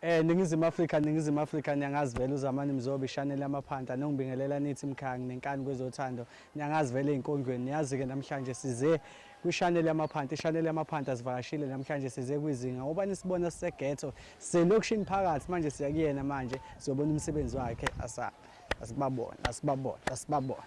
Eh ningizimu Afrika ningizimu Afrika niyangazi vele uZamani Mzobi Chanel yamaphanta nongibingelela nithi mkhangi nenkani kwezothando niyangazi vele ezinkondlweni niyazi ke namhlanje size kwi-Chanel yamaphanta i-Chanel yamaphanta sivakashile namhlanje size kwizinga ngoba nisibona sisegetho selokishini phakathi manje siya kuyena manje siyobona umsebenzi wakhe asa asibabona asibabona asibabona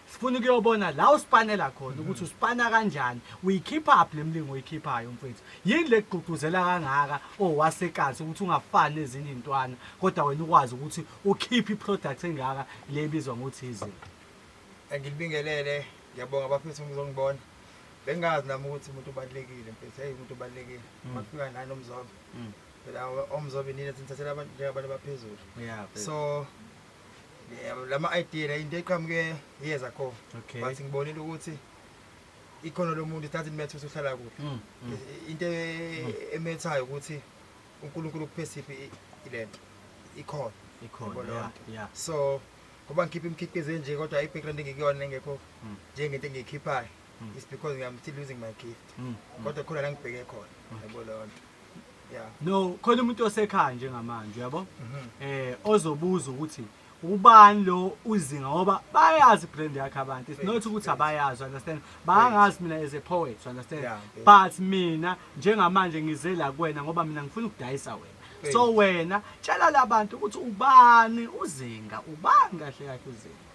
Sifuna ukuyobona la usipanela khona mhm. ukuthi usipana kanjani. Uyikhipha phi lemlingo oyikhiphayo mfethu? Yini lekugqugquzela kangaka owasekazi ukuthi ungafani nezinye intwana kodwa wena ukwazi ukuthi ukhiphe iproduct engaka le ibizwa ngokuthi izinto. Ngilibingelele, ngiyabonga bafethu ngizongibona. Bengazi nami ukuthi umuntu ubalekile mfethu, hey umuntu ubalekile. Mm. Mafika nani umzobe. Mm. Phela omzobe nina sinithathela abantu njengabantu abaphezulu. So lama idea la into eqhamuke years ago okay. but ngibonile ukuthi ikhono lomuntu it doesn't matter ukuthi uhlala kuphi mm, mm. into e- mm. emethayo ukuthi uNkulunkulu kuphesiphi ilento ikhona ikhona yeah, yeah. so ngoba ngikhipha imikhiqizo enje kodwa i-background engikuyona engekho hmm. njengento engiyikhiphayo hmm. is because I'm still losing my gift hmm. kodwa khona la ngibheke khona yabo lonto yeah. no khona umuntu osekhaya njengamanje uyabo mm -hmm. eh ozobuza ukuthi ubani lo uzinga ngoba bayazi brand yakhe abantu it's not ukuthi abayazi understand bangazi mina as a poet understand yeah, yeah. but mina njengamanje ngize la kuwena ngoba mina ngifuna ukudayisa wena so wena tshela labantu ukuthi ubani uzinga ubani kahle kahle uzinga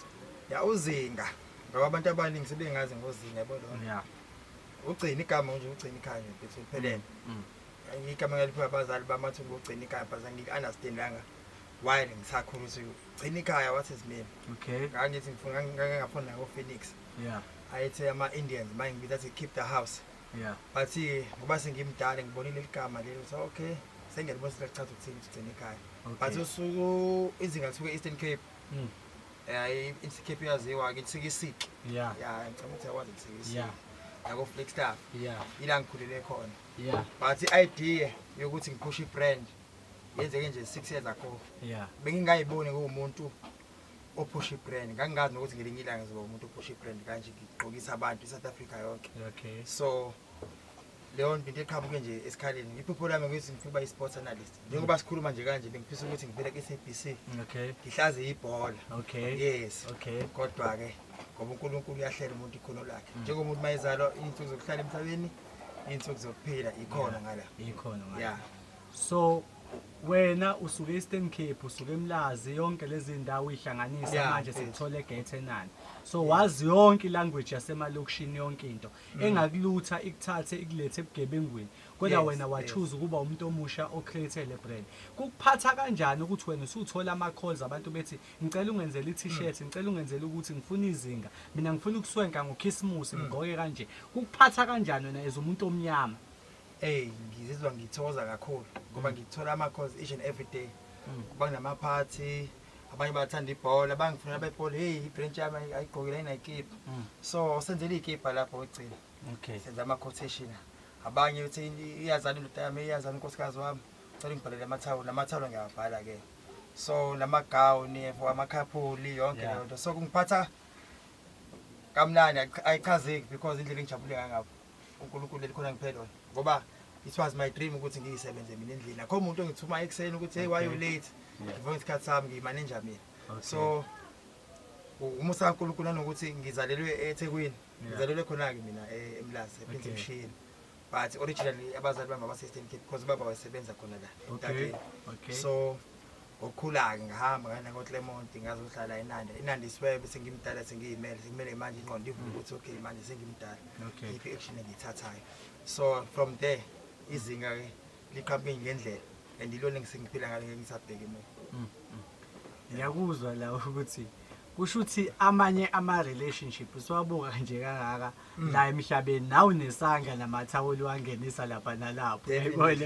ya uzinga ngoba abantu abaningi sebengazi ngozinga yabo lona yeah ugcina igama nje ugcina ikhaya nje bese liphelele mm. igama ngaliphiwa abazali bamathi ngugcina ikhaya but angiku-understandanga why ngisakhula ukuthi gcina ikhaya wathi zimele okay ngangithi ngifuna ngangingafuni nako phoenix yeah ayethi ama-indians manje ngibiza athi keep the house yeah but ngoba sengimdala ngibonile ligama leli ukuthi okay sengiyalibona ukuthi lichaza ukuthini ukuthi gcina ikhaya but usuku izinga lisuke e-eastern cape mm. Eh insikiphi yaziwa ke insikisiki. Yeah. Yeah, ngicela ukuthi yakwazi insikisiki. Yeah. Yako Flagstaff. Yeah. Ila ngikhulele khona. Yeah. But i-idea yokuthi ngiphushe i-brand yenzeke nje 6 years ago. Yeah. Bengingayiboni kuwumuntu ophusha ibrand ngangingazi nokuthi ngelinye ilanga ngizoba umuntu ophusha ibrand kanje ngigqokisa abantu i-south africa yonke okay. so leyo nto into eqhamuke nje esikhaleni iphupho lami ukuthi ngifuna ukuba i-sports analyst njengoba sikhuluma nje kanje bengifisa ukuthi ngivele ku-sabc okay ngihlaze ibhola okay yes okay kodwa-ke ngoba unkulunkulu uyahlela umuntu ikhono lakhe mm. njengomuntu uma ezalwa iy'nsuku zokuhlala emhlabeni iy'nsuku zokuphila ikhona ngala ikhona ngala yeah so wena usuke e-Eastern Cape usuke eMlazi yonke lezi ndawo uyihlanganisa manje sikuthola eGate enani so wazi yonke ilanguage yasemalokishini yonke into Mm. engakulutha ikuthathe ikulethe ebugebengwini kodwa Yes, wena yes. wachuza ukuba umuntu omusha ocreate le brand kukuphatha kanjani ukuthi wena usuthola ama-calls abantu bethi ngicela ungenzela i-t-shirt Mm. ngicela ungenzela ukuthi ngifuna izinga mina ngifuna ukuswenka ngokhisimusi Mm. ngigqoke kanje kukuphatha kanjani wena as umuntu omnyama Ey ngizizwa ngithokoza kakhulu ngoba ngithola ama calls each and every day. Kuba kunama party abanye bathanda ibhola bangifunela bebhola heyi ibrench yami ayi- ayigqokile ayinayikipa Mm. so senzela iy'kipa lapho okugcina Okay. senza ama-quotation abanye uthi "Ini- iyazani indoda yami iyazani unkosikazi wami cela ngibhalele amathawulo namathawulo ngiyawabhala-ke so namagawuni yebo amakhaphuli yonke Yeah. leyo nto so kungiphatha kamnandi ayichazeki because indlela engijabule ngangabo uNkulunkulu elikhona ngiphela ngoba it was my dream ukuthi ngiyisebenze mina endlini akho umuntu ongithuma ekuseni ukuthi hey why you late ngivuka isikhathi sami ngiyimanager mina so umusa kaNkulunkulu nanokuthi ngizalelwe eThekwini ngizalelwe khona-ke mina e-, emlazi ephindimshini but originally abazali bami abase-eastern cape because ubaba wayesebenza khona la so ngokukhula-ke ngahamba ngana ngoclermont ngazohlala enanda enanda isiwebe sengimdala sengiyimele sekumele manje inqondo ivume ukuthi okay manje sengimdala Okay. iphi action engiyithathayo so from there izinga-ke liqhamuke ngendlela and ilona engisengiphila ngalo ngeke ngisabheki mina ngiyakuzwa la ukuthi kusho ukuthi amanye ama relationship siwabuka nje kangaka mm. la emhlabeni nawu nesandla namathawuli wangenisa lapha nalapho yayibona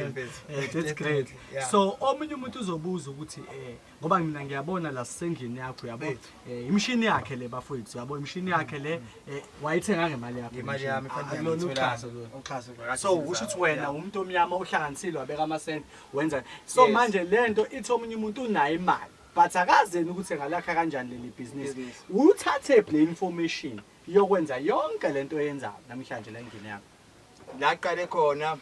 eh, that's great so omunye umuntu uzobuza ukuthi eh ngoba mina ngiyabona la sisendlini yakho yabo eh, imshini yakhe le bafowethu yabo imshini mm. yakhe le eh, wayithenga ngemali yakhe imali yami fanele uxhaso uxhaso so usho ukuthi wena umuntu omnyama ohlanganisile wabeka amasenti wenza so manje lento ithi omunye umuntu unayo imali But akazi yena ukuthi engalakha kanjani leli bhizinisi. Uthathephi le information yokwenza yonke lento oyenzayo namhlanje la endlini yakho? La qale khona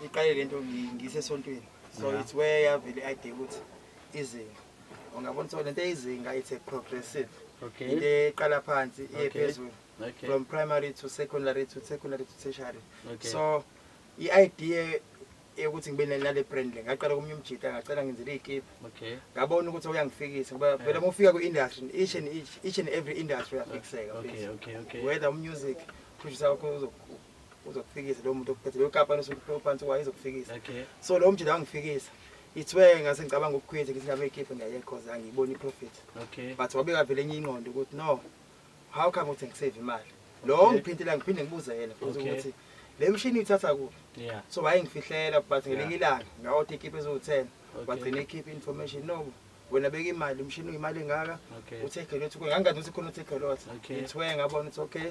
iqale lento ngisesontweni. So it's where yavele idea ukuthi izinga. Ungabona ukuthi lento izinga it's a progressive. Okay. Into eqala phansi iye phezulu. Okay. From primary to secondary to secondary to tertiary. Okay. So i-idea eyokuthi ngibe nale brand le ngaqala komunye umjita ngacela ngenzele iy'kipha okay ngabona ukuthi uyangifikisa ngoba eh. vele uma ufika kwi-industry each and each, each and every industry uyafikiseka okay, okay, okay. whether umusic producer wakho uzokufikisa lowo muntu okuphethe leyo kampani osuphansi kwayo izokufikisa okay. so lowo mjita wangifikisa ithwe ngase ngicabanga ukukhwetha ngithi ngabe ikhiphe ngiyayekhoza angiyiboni i-profit okay but wabeka vele enye ingqondo ukuthi no how come ukuthi ngisave imali lo Okay. ongiphintile ngiphinde ngibuze yena futhi Okay. ukuthi le mshini uyithatha kuphi yeah so wayengifihlela but ngelinye ilanga ngawoti ikhiphe eziwu-ten Okay. wagcina ikhiphe information no wena beka imali umshini uyimali engaka okay uthekhe lothu ngangazi ukuthi khona uthekhe lothu Okay. ngithwe ngabona ukuthi okay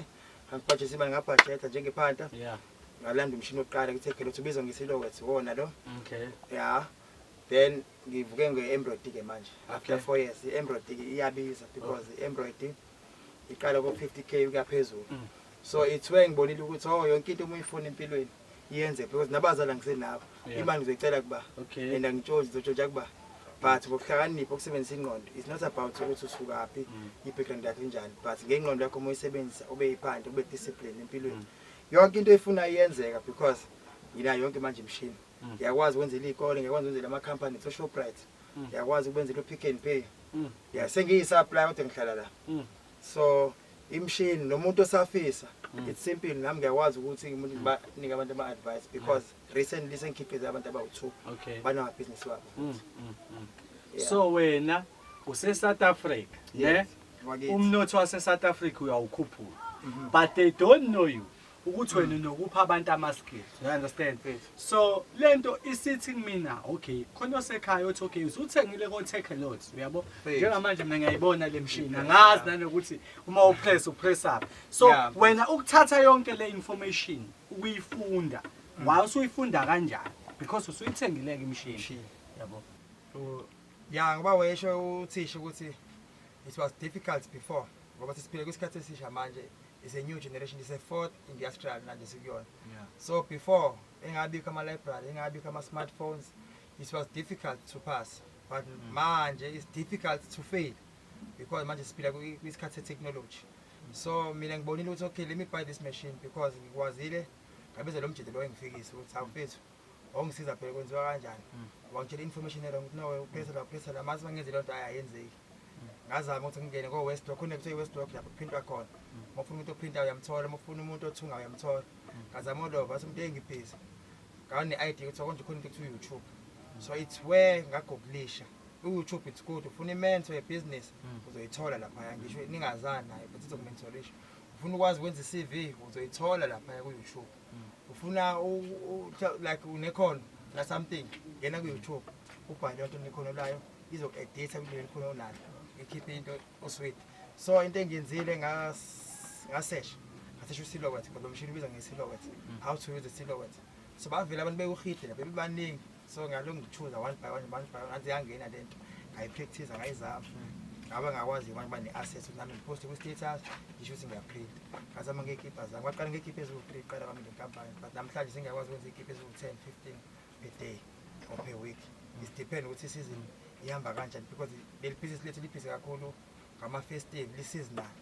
angibhajese imali ngabhajetha njengephanta yeah ngalanda umshini wokuqala kuthekhe lothu ubizwa ngesilowet wona lo okay ya then ngivuke nge-embroid ke manje after four years i-embroid iyabiza because i-embroid iqala ko-fifty k kuyaphezulu mm. so ithiwe ngibonile ukuthi o oh, yonke into uma uyifuna empilweni yenze because nabazala ngisenabo imali ngizoyicela kuba and angitshonzi ngizotshontsha kuba but ngokuhlakanipha ukusebenzisa ingqondo is not about ukuthi usukaphi mm. i-background yakho injani but ngengqondo yakho uma uyisebenzisa ube yiphandle ube discipline empilweni mm. yonke into efuna iyenzeka because nginayo yonke manje imishini Mm. Ngiyakwazi ukwenzela iy'kole, ngiyakwazi ukwenzela ama-company kuthiwa Shoprite. Mm. Ngiyakwazi ukwenzela u-Pick n Pay. Mm. Ya sengiyi-supply kodwa ngihlala la. Mm. So imshini nomuntu osafisa mm. it's simple nami ngiyakwazi ukuthi ngimuntu mm. banike abantu ama advice because mm. recently sengikhiqize abantu abawu2 okay. bana business wabo mm. Mm. Mm. Yeah. so wena use South Africa yes. ne umnotho wase South Africa uyawukhuphula mm -hmm. but they don't know you ukuthi wena unokupha abantu ama-skills you understand so le nto isithi kumina okay khona osekhaya othi okay usuthengile ko-take a lot uyabo njengamanje mina ngiyayibona le mshini angazi nanokuthi uma upress upress up so wena ukuthatha yonke le information ukuyifunda mm. wa usuyifunda kanjani because usuyithengileke imshini yabo ya ngoba wesho uthisha ukuthi it was difficult before ngoba sesiphile kwisikhathi esisha manje is a new generation is a fourth industrial manje sikuyona yeah. so before engabikho ama-library engabikho ama-smartphones it was difficult to pass but mm. manje it's difficult to fail because manje siphila kwisikhathi se-technology so mina ngibonile ukuthi okay let me buy this machine because ngikwazile ngabiza lo mjede lo engifikise ukuthi awufethu wangisiza phela kwenziwa kanjani wangitshela information erong ukuthi no upressa la upressa la mase bangenze lento hayi ayenzeki ngazama ukuthi ngingene ko West Rock kunekuthiwa iWest Rock lapho kuphintwa khona uma ufuna umuntu ophinta uyamthola uma ufuna umuntu othunga uyamthola ngazama ulova athi umuntu engibhizi ngane ID ukuthi konje khona into kuthiwa YouTube so it's where ngagooglisha uYouTube it's good ufuna imentor ye business uzoyithola lapha ngisho ningazani naye but izokumentorisha ufuna ukwazi ukwenza iCV uzoyithola lapha ku-YouTube ufuna like unekhono na something ngena ku-youtube ubhale onto nekhono layo izoku-editha kuleli khona onalo ikhiphe into osweet so into engiyenzile ngasesha ngasesha usilowet ngoba lo mshini ubiza ngesilowet mm. how to use the silowet so bavele abantu bewuhide lapha bebaningi so ngalo ngithuza one by one one by one anze yangena lento ngayipractice ngayizama ngaba ngakwazi abantu bane access ukuthi nami ngiposte ku status ngisho ukuthi ngiyaprint ngazama ngekipa zami kwaqala ngekipa eziwu 3 qala kwami ngenkampani but namhlanje sengiyakwazi ukwenza ikipa eziwu 10 15 per day or per week it depend ukuthi season ihamba kanjani because leli business lethu liphise kakhulu ngama festive li seasonal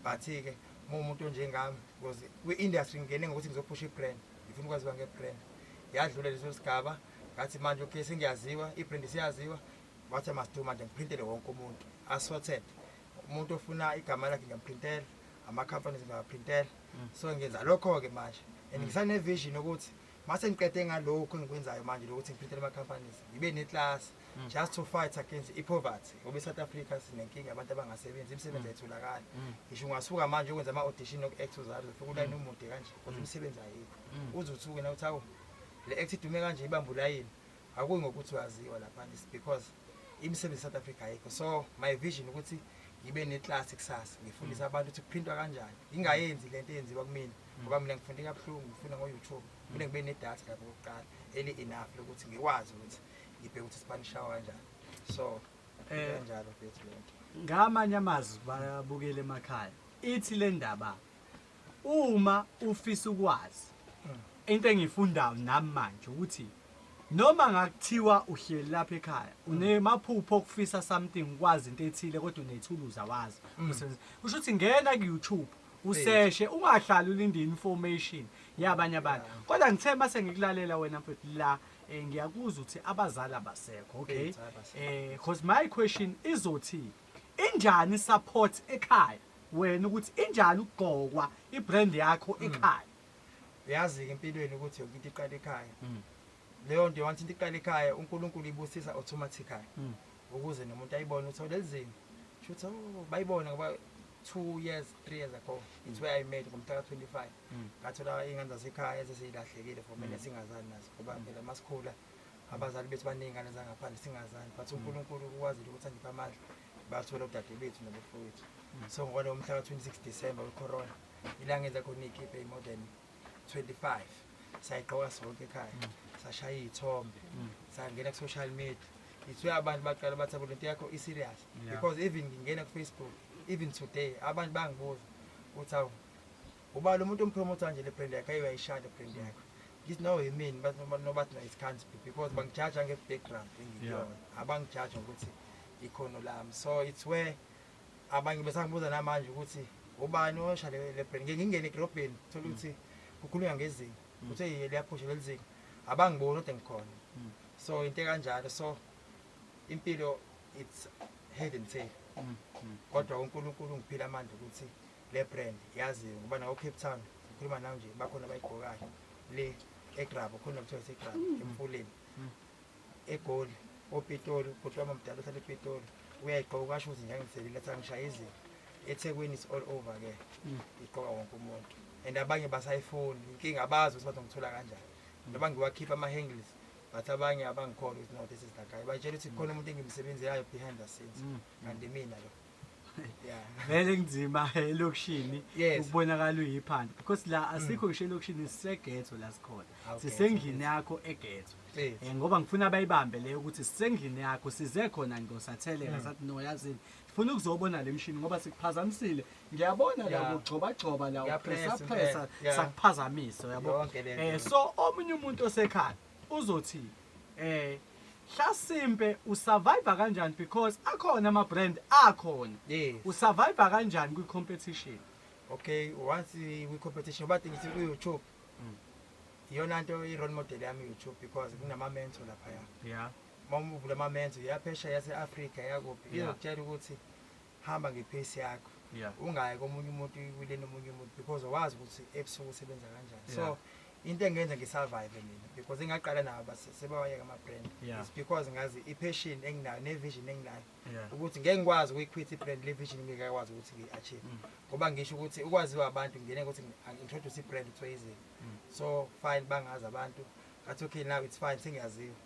but ke uma umuntu onjengami because kwi industry ngingene ngokuthi ngizophusha i brand ngifuna ukwaziwa ngebrand yadlula leso sigaba ngathi manje okay sengiyaziwa ibrand siyaziwa wathi masidu manje ngiprintele wonke umuntu assorted umuntu ofuna igama lakhe ngiyamprintela ama-companies ngiyawaprintela mm. so ngenza lokho-ke manje and mm. ngisanevision ukuthi mase ngiqede ngalokhu engikwenzayo manje lokuthi ngiphethele ama-companies ngibe neklasi mm. just to fight against i-poverty ngoba i-south africa sinenkinga abantu abangasebenzi imisebenzi mm. ayitholakali mm. ngisho ungasuka manje ukwenza ama-audition oku-act uzalo ufika ulayini umude kanje kodwa imisebenzi ayikho uze uthuke na uthi awu le act idume kanje ibambe ulayini akuyi ngokuthi uyaziwa laphana is because imisebenzi e-south africa ayikho so my vision ukuthi ngibe neclass kusasa ngifundise abantu ukuthi kuphindwa kanjani ngingayenzi le nto eyenziwa kumina ngoba mina ngifunde kabuhlungu ngifunda ngo-youtube fune ngibe nedatha lapho kokuqala eli-enough lokuthi ngikwazi ukuthi ngibheke ukuthi sibanishawa kanjani so eh, kanjalo futhi lento ngamanye amazwi bayabukela emakhaya ithi le ndaba uma ufisa ukwazi hmm. into engiyifundayo nami manje ukuthi noma ngakuthiwa uhleli lapha ekhaya hmm. unemaphupho okufisa something ukwazi into ethile kodwa unethuluza wazi hmm. usho ukuthi ngena ku-youtube useshe ungahlali ulinde information yabanye abantu kodwa ngithe mase ngikulalela wena mfethu la Eh ngiyakuzwa ukuthi abazali abasekho, okay? Eh because my question izothi injani support ekhaya? Wena ukuthi injani ukugqokwa ibrand yakho hmm. ekhaya? Uyazi ke empilweni ukuthi yonke into iqala ekhaya. Hmm. Leyo nto wanthi into iqala ekhaya uNkulunkulu ibusisa automatically. Hmm. Ukuze nomuntu ayibone ukuthi lelizinga. Shuthi oh, bayibona ngoba 2 years 3 years ago it's where I made ngomhla ka 25. mm. ngathola iy'ngane zasekhaya eseseyilahlekile for mina mm. singazani nazo ngoba mm. phela masikhula abazali bethu baningi iy'ngane zangaphandle singazani but unkulunkulu ukwazile ukuthi angiphe amandla bathola udade bethu nabafowethu so ngokwalowo mhla ka-26 december wecorona ilanga enza khona iy'kiphe imodern 25 sayigqoka sonke ekhaya sashaya iy'thombe sangena ku-social media ngithiwe abantu baqala bathi abo lento yakho i-serious because even ngingena kufacebook even today abantu bangibuza ukuthi awu Ubala umuntu ompromotha nje le brand yakhe ayo yayishaya le brand yakhe. Ngithi no yimini but noma nobathi no isikhansi because bangijaja nge background engiyona. Abangijaja ukuthi ikhono lami. So it's where abanye besangibuza namanje ukuthi ubani osha le le brand. Ngeke ngingene egrobheni thola mm. ukuthi kukhulunywa ngezinga. Mm. Kuthe yile yaphusha lelizinga. Abangiboni kodwa ngikhona. Mm. So into kanjalo so impilo it's head and tail. Kodwa uNkulunkulu ngiphila amandla ukuthi Le brand yaziwe ngoba nawo Cape Town ngikhuluma nawe nje bakhona abayigqokayo le eGrabo khona kuthiwa seGrabo mm. emfuleni mm. eGoli oPitoli bhuti wami omdala ohlala ePitoli uyayigqoka ukasho ukuthi ngiyangiselile athi angishaye izinto eThekwini is all over ke mm. igqoka wonke umuntu and abanye basayifuni inkinga abazi ukuthi bazongithola kanjani noma ngiwakhipha ama-hangles but abanye abangikhona ukuthi no this is that guy batshela ukuthi khona umuntu engimsebenzelayo behind the scenes kanti mina lo vele kunzima elokishini ukubonakala uyiphanda because la mm. asikho ngisho elokishini sisegetho la sikhona sisendlini yakho egetho um ngoba ngifuna bayibambe leyo ukuthi sisendlini yakho size khona ngosatheleka mm. sathi no yazini funa ukuzobona le mshini ngoba sikuphazamisile ngiyabona la kugxobagxoba la upressappressa sakuphazamisa yabo um so omunye umuntu osekhaya uzothini Eh Hlasimpe u survive kanjani because akhona ama brand akhona. Yes. U survive kanjani kwi competition? Okay, once we competition bathi ngithi ku YouTube. Mm. Iyona nto i role model yami YouTube because kunama mentor lapha ya. Yeah. Uma uvula ama mentor yaphesha yase Africa yakuphi. Izokutshela ukuthi hamba nge pace yakho yeah. ungayi komunye umuntu uyiwile nomunye umuntu because awazi ukuthi ebusuku usebenza kanjani yeah. so into engenza ngisurvive mina because engaqala nabo sebawayeka ama-brand yeah. is because ngazi i-passion enginayo ne-vision enginayo yeah. ukuthi ngeke ngikwazi ukuyikhwitha i-brand le vision ngeke akwazi ukuthi ngiyi-achieve mm. ngoba ngisho ukuthi ukwaziwa abantu ngingene ukuthi ngi-introduce i-brand kuthiwa izini mm. so fine bangazi abantu ngathi okay now it's fine sengiyaziwa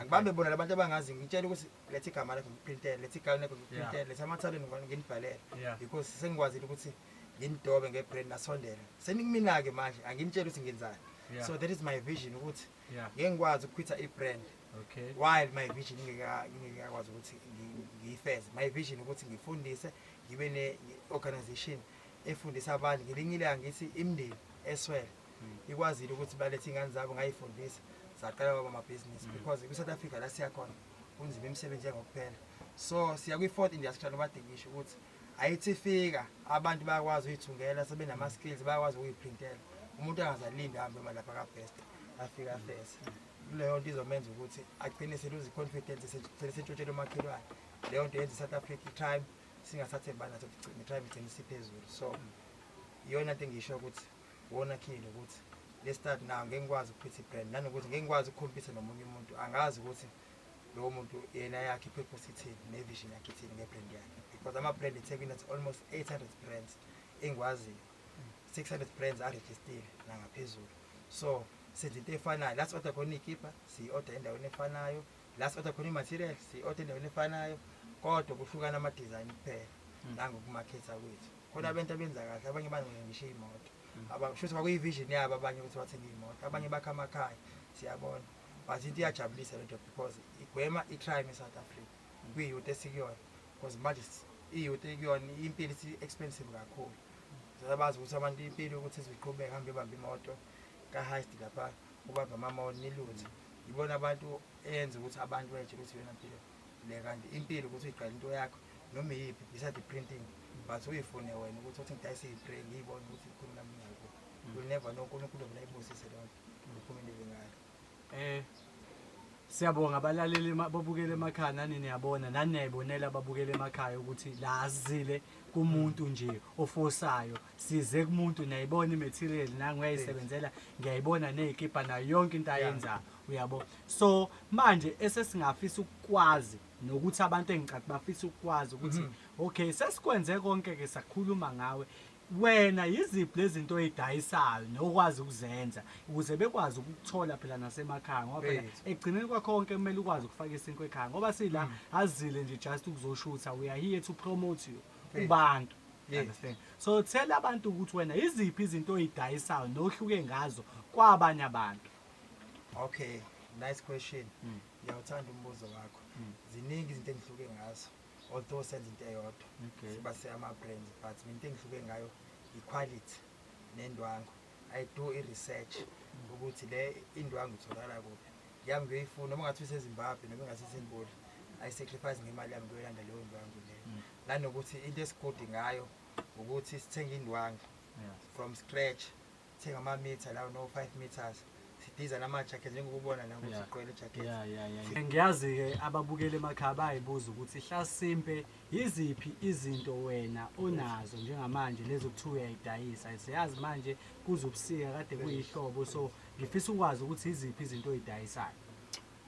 ngibambe bona labantu abangazi ngitshele ukuthi letha igama lakho ngiprintele letha igama lakho ngiprintele letha amathaleni nginibhalele because sengikwazile ukuthi nginidobe ngebrand nasondela senikumina-ke manje anginitshele ukuthi ngenzani so that is my vision ukuthi ngeke ngikwazi ukukhwitha i-brand okay while my vision ngingekakwazi ukuthi ngiyifeze my vision ukuthi ngifundise ngibe ne-organization efundisa abantu ngelinye ilanga ngithi imndeni eswele ikwazile ukuthi balethe ingane zabo ngayifundisa saqala kwaba amabhizinisi mm. because kwi-south africa la siyakhona kunzima imisebenzi engokuphela so siya kwi-fourth industrial obadingisho ukuthi ayithi fika abantu bayakwazi uyithungela sebenama-skills bayakwazi ukuyiprintela umuntu angazalindi ahambe malapha kabest afika afese leyo nto izomenza ukuthi agcine seluze i-confidence sigcine sentshotshela umakhelwane leyo nto yenza i-south africa i-crime singasathembani naso kugcina i-crime igcine isiphezulu so iyona nto engisho ukuthi Wona Khili ukuthi le start nayo ngeke ngikwazi ukuphetha ibrand nanokuthi ngeke ngikwazi ukukhompitha nomunye umuntu angazi ukuthi lowo muntu yena yakhe i-purpose ithini ne-vision yakhe ithini nge-brand yakhe because ama-brand ethekwini athi almost 800 brands engikwaziyo 600 brands arejistile nangaphezulu so senza into efanayo la si-oda khona iy'kibha siyi-oda endaweni efanayo la si-oda khona i-material siyi-oda endaweni efanayo kodwa kuhlukana ama-design kuphela hmm. nangokumakhetha kwethu khona abantu abenza kahle abanye bancenga ngisho iy'moto abanye shuthi kwakuyi-vision yabo abanye ukuthi bathenge iy'moto abanye bakha amakhaya siyabona but into iyajabulisa lento because igwema i-crime e-south africa kwi-youth esikuyona because manje i-youth ekuyona impilo isi-expensive kakhulu sebazi ukuthi abantu impilo ukuthi iziqhubeke hambe ibambe imoto ka-heist lapha ubambe amamoni niluthe yibona abantu eyenza ukuthi abantu betshe ukuthi yona mpilo le kanti impilo ukuthi uyiqale into yakho noma iyiphi besides printing but uyifune wena ukuthi uthi ngidayise iyibre ngiyibone ukuthi ikhulu nami ngiyakho will never know unkulunkulu vele ayibusise leyo ngiphumelele ngayo eh siyabonga abalaleli babukele emakhaya nani niyabona nani niyayibonela ababukele emakhaya ukuthi la asizile kumuntu nje ofosayo size kumuntu niyayibona imaterial nangu uyayisebenzela ngiyayibona nezikipa nayo yonke into ayenzayo uyabo so manje esesingafisa ukukwazi nokuthi abantu engicathi bafisa ukukwazi ukuthi mhm. okay sesikwenze konke ke sakhuluma ngawe wena yiziphi lezinto oyidayisayo nokwazi ukuzenza ukuze bekwazi ukuthola phela nasemakhaya ngoba phela ekugcineni kwakho konke kumele ukwazi ukufaka isinkwe ekhaya ngoba sila mm. azile nje just ukuzoshutha we are here to promote you kubantu You understand? so tell abantu ukuthi wena yiziphi izinto oyidayisayo nohluke ngazo kwabanye abantu okay nice question mm. ngiyawuthanda umbuzo wakho mm. ziningi izinto engihluke ngazo although senza into eyodwa okay. siba se-ama-brands but mina into engihluke ngayo yi-quality nendwangu I do i research ukuthi le indwangu itholakala kuphi yami ngiyoyifuna uma ngathi usezimbabwe noma ngathi sendibodla i sacrifice ngemali yami ngiyoyilanda leyo ndwangu leyo mm. nanokuthi into esigudi ngayo ukuthi sithenga indwangu from scratch sithenga ama-meter lawo no-five meters sidiza namajacket njengokubona la ukuthi Yeah. sigqwele ijacket ya ya ya ya. ngiyazi-ke ababukeli emakhaya bayibuza ukuthi hlasimpe yiziphi izinto wena onazo njengamanje lezi okuthiwa uyayidayisa siyazi manje kuze ubusika kade kuyihlobo so ngifisa ukwazi ukuthi yiziphi izinto oyidayisayo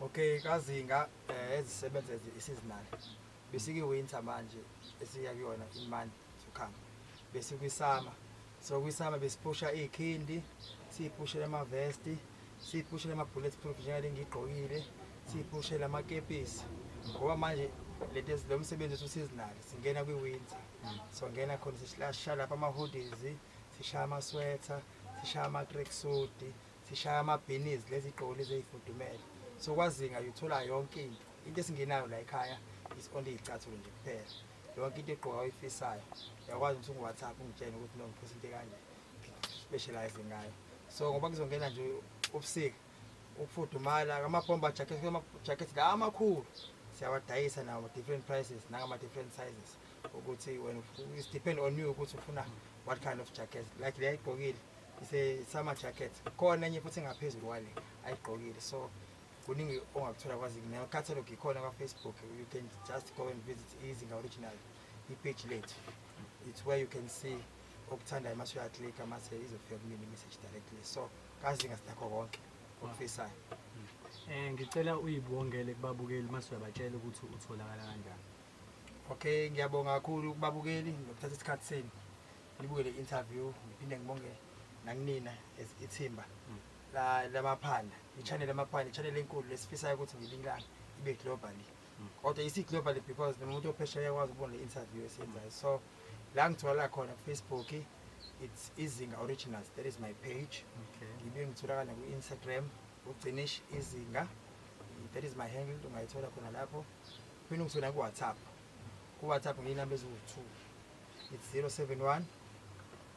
okay kazinga eh, ezisebenza ezi- i-seasonal besikiwinter manje esiya kuyona imandi sokhamba besikwisama So kwisama besiphusha ikhindi, siphushele ama vest, siphushele ama bullet proof njengale ngigqokile, siphushele ama kepisi. Ngoba manje lento lo msebenzi uthi useasonal, singena kwi winter. So ngena khona sishaya lapha ama hoodies, sishaya ama sweater, sishaya ama track suit, sishaya ama beanies lezi gqoko lezi ezifudumele. So kwazinga uthola yonke into. Into esingenayo la ekhaya is only icathulo nje kuphela. yonke into egqoka oyifisayo uyakwazi ukuthi ungu-whatsapp ungitshene ukuthi no ngiphusa into ekanje specialize ngayo so ngoba kuzongena nje ubusika ukufudumala amabhomba jacket la amakhulu siyawadayisa nawo different prices nangama-different sizes ukuthi wena it depend on you ukuthi ufuna what kind of jacket like le ayigqokile ise-summer jacket khona enye futhi engaphezulu kwale ayigqokile so kuningi ongakuthola kwazini nayo catalogue ikhona kwafacebook you can just go and visit izinga original ipage lethu it's where you can see okuthandayo mase uyaclicka mase izofika kumina imessage directly so kazinga sinakho konke okufisayo um ngicela uyibongele kubabukeli mase uyabatshela ukuthi utholakala kanjani okay ngiyabonga kakhulu kubabukeli ngokuthatha isikhathi senu nibukele i-interview ngiphinde ngibonge nakunina as ithimba mm. la lamaphanda ichannel lamaphanda ichannel enkulu lesifisayo ukuthi ngilingane ibe globally mm. kodwa isi globally because nomuntu ophesheya yakwazi ukubona le interview esiyenzayo so la ngithola khona ku Facebook it's izinga originals that is my page ngibe ngitholakala ku Instagram ugcinish izinga that is my handle ungayithola khona lapho phinde ngithola ku WhatsApp ku WhatsApp ngiyinamba eziwu2 it's 071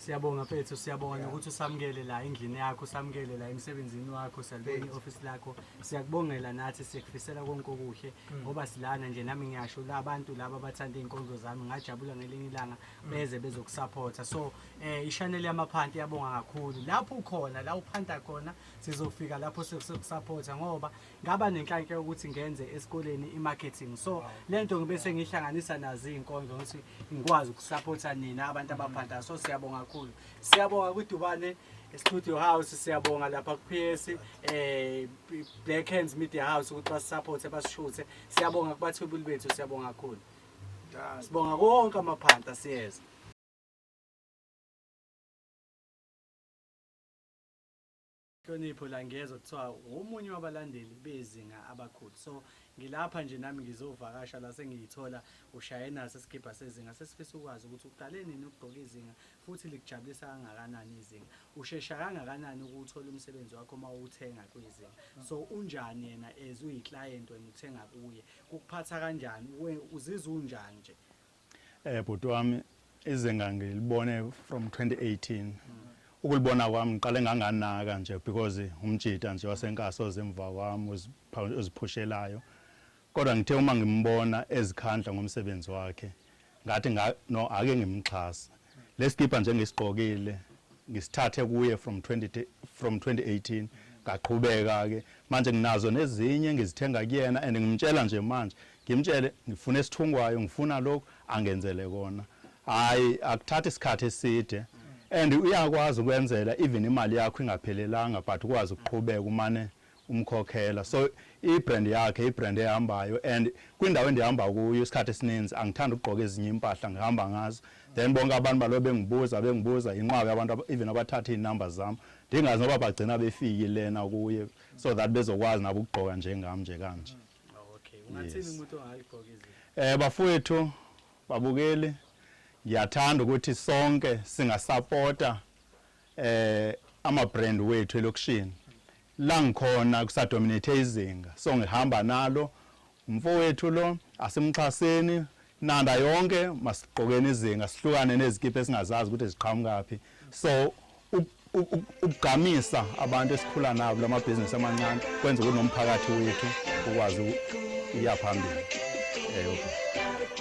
Siyabonga mfethu, siyabonga yeah. ukuthi usamukele la endlini yakho, usamukele la emsebenzini wakho, siyalibona i-office lakho. Siyakubongela nathi, sikufisela konke okuhle mm. ngoba mm. silana nje nami ngiyasho la abantu laba abathanda izinkonzo zami ngajabula ngelinye ilanga mm. beze bezokusupporta. So eh i-channel yamaphanti yabonga kakhulu. Lapho ukhona, la uphanta khona, sizofika lapho sizokusupporta ngoba ngaba nenhlanhla yokuthi ngenze esikoleni i-marketing so le nto ngibe sengihlanganisa nazo iy'nkonzo ukuthi ngikwazi ukusaphotha nina abantu abaphantayo so siyabonga kakhulu siyabonga kwidubane studio house siyabonga lapha ku-ps um eh, black hands media house ukuthi basisaphothe basishuthe siyabonga kubathwebuli bethu siyabonga kakhulu sibonga konke amaphanta siyeza Nhlonipho Langezwa kuthiwa ngomunye wabalandeli bezinga abakhulu so ngilapha nje nami ngizovakasha la sengiyithola ushaye naso isigibha sezinga sesifisa ukwazi ukuthi uqale nini ukugqoka izinga futhi likujabulisa kangakanani izinga ushesha kangakanani ukuwuthola umsebenzi wakho uma uwuthenga kwizinga so unjani yena as uyi client wena uthenga kuye kukuphatha kanjani uzizwa unjani nje Eh bhuti wami izinga ngilibone from 2018 ukulibona kwami ngiqale nganganaka nje because umjita nje wasenkasi ozemva kwami oziphushelayo kodwa ngithe uma ngimbona ezikhandla ngomsebenzi wakhe ngathi no ake ngimxhase Lesikibha nje ngisigqokile ngisithathe kuye from 20 from 2018 ngaqhubeka ke manje nginazo nezinye ngizithenga kuyena and ngimtshela nje manje ngimtshele ngifuna esithungwayo ngifuna lokhu angenzele kona hayi akuthathi isikhathi eside and uyakwazi ukwenzela even imali yakho ingaphelelanga but ukwazi ukuqhubeka umane umkhokhela so i brand yakhe i brand ehambayo and kwindawo endihamba kuyo isikhathi esininzi angithanda ukugqoka ezinye impahla ngihamba ngazo then bonke abantu balo bengibuza bengibuza yinqwabe abantu even abathatha iinumber zam ndingazi noba bagcina befiki lena kuye so that bezokwazi nabo ukugqoka njengam nje kanje um bafowethu babukeli ndiyathanda ukuthi sonke singasapota ama brand wethu elokishini la ngikhona kusadominate izinga so ngihamba nalo umfowethu lo asimxhaseni nanda yonke masiqokeni izinga sihlukane nezikipa esingazazi ukuthi ziqhamukaphi so ukugqamisa abantu esikhula nabo lamabhizinisi amancane kwenza ukuthi nomphakathi wethu ukwazi ukuya phambili eh okay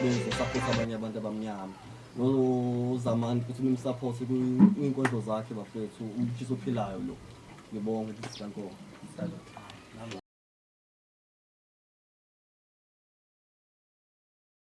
benze support abanye abantu abamnyama nozamani futhi nimsupport kwinkondlo zakhe bafethu umtshisa ophilayo lo ngibonge sikankomo